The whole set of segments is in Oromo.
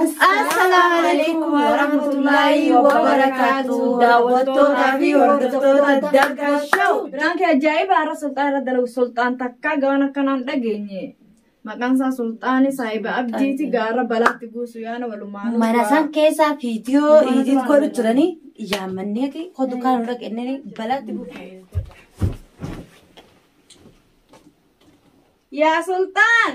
Assalaamu alaikum warahmatullaahi wabarakaatu daawwattootaa fi hordoftoota Dagga Show. Biraanki ajaa'iba har'a sulxaan irra dalagu sulxaan takkaa gabaan akkanaan dhageenye. Maqaan isaa sulxaani saahiba abdiiti gaara balaatti buusu yaana walumaan. Mana san keessaa viidiyoo idiit godhu turanii yaammanneeti hodu kan irra kennanii balaatti buusu. Yaa sulxaan!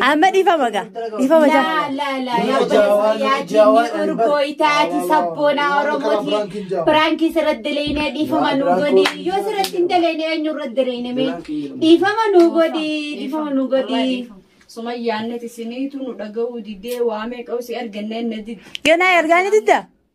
Amma dhiifama gaa. Dhiifama jaa. Laa laa laa yaa Jaawaan- Jaawaan jaawaan Albar. urgoo itaati Laa, laa, sabboonaa laa, laa, Oromooti Biraankiin jaawaan. biraankii sirratti daleeyne dhiifama Laa, nuu Biraankiin godhi jaawaan. yoo sirratti hin daleeyne eenyu irratti daleeyne mee Biraankiin jedhamu. dhiifama nuu godhi dhiifama nuu godhi. Sumayyaan nati siniitu nu dhaga'uu didee waamee qawsi arganneen na didde. Ganaa ergaa ni didda.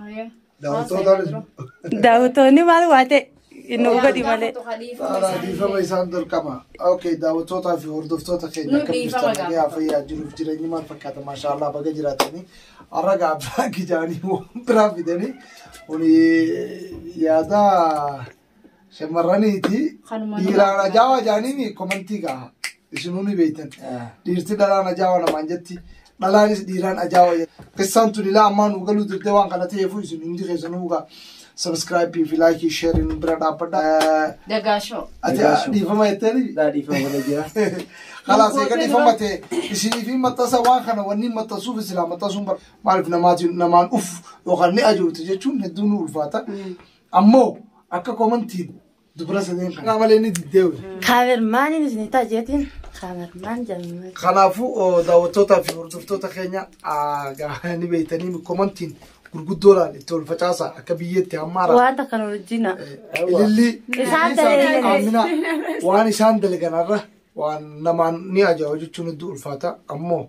Haya. Daawwattootaanis Daawwattoonni maal waa ta'e inni hubadhi malee. Haala dhiifama isaan dorqama. Okay, daawwattootaa fi hordoftoota keenya Nu akkam dhiifama jirtan nagaa gaafata. fayyaa jiruuf jireenyi maal fakkaata maashaallah baga jiraatanii har'a gaa abbaa gidaanii waan biraa fidanii kuni yaada Shamarraniiti Kanuma dhiiraan ajaawaa jaaniin komantii gaha. Isinuu ni beektan. Dhiirti dhalaan ajaawaa namaan jetti. Dhalaanis dhiiraan ajaawaa jetti. Qissaan tun ilaa ammaa nuu galuu didde waan kana ta'eefuu isin hundi keessanuu gaa sabiskiraayipii fi laayikii sheeriin nu bira dhaabbadha. Dagaashoo. Ati Dagaashoo. dhiifama jetteeni? Daa dhiifama godha jira. Kalaas eega Gootee dhiifama dura. ta'e isiniif hin maxxansa waan kana wanni maxxansuuf isilaa maxxansuun bar- maaliif namaatiin namaan uf yookaan ni ajoofte jechuun hedduu nu ulfaata. Ammoo akka komantiin dubra sadeen kanaa malee ni diddee wayii. Kaamermaaniin isin ta'a jeetiin kaamermaan jennee. Kanaafuu oo, daawwattootaa fi hordoftoota keenya aa, gaa- ni beektanii nu komantiin gurguddoodhaan itti ol facaasaa akka biyyeetti hammaara. Wanta kan hojjina. Ilillii Isaan dalagan. Aamina waan isaan dalaganarra waan namaan ni ajaa'iba jechuun hedduu ulfaata ammoo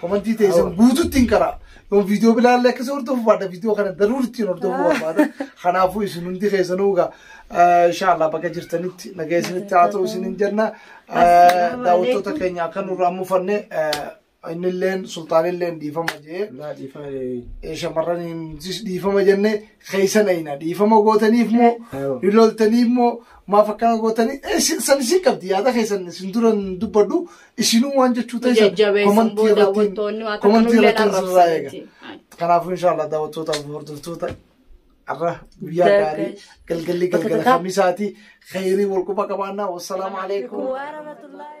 Komantii teessan guututti hin karaa. Yoo viidiyoo bilaalee akkasii hordofu baadha viidiyoo kana daruun ittiin hordofu barbaada. Kanaafuu isin hundi keessanuu egaa inshaallah bakka jirtanitti nagaa isinitti haa ta'u isin hin jenna. Daawwattoota keenya akka nurraa mufanne innilleen sultaanilleen dhiifama jee. Naa dhiifama jee. Shamarraniinis dhiifama jenne keessan ayina dhiifama gootaniif moo Ayoo. hin loltaniif moo maaf akkana gootanii san isin qabdi yaada keessan isin duran dubbadhu isinuu waan jechuu ta'e jajjabeessuun boo daawwattoonni waa takka komantii nullee irratti sirraa eega. arrabsaniiti. Kanaafuu inshaallah daawwattootaaf hordoftoota har'a guyyaa gaarii galgalli galgala kamisaati khayrii wal quba qabaannaa wassalaamu alaikum. Waa rahmatullahi.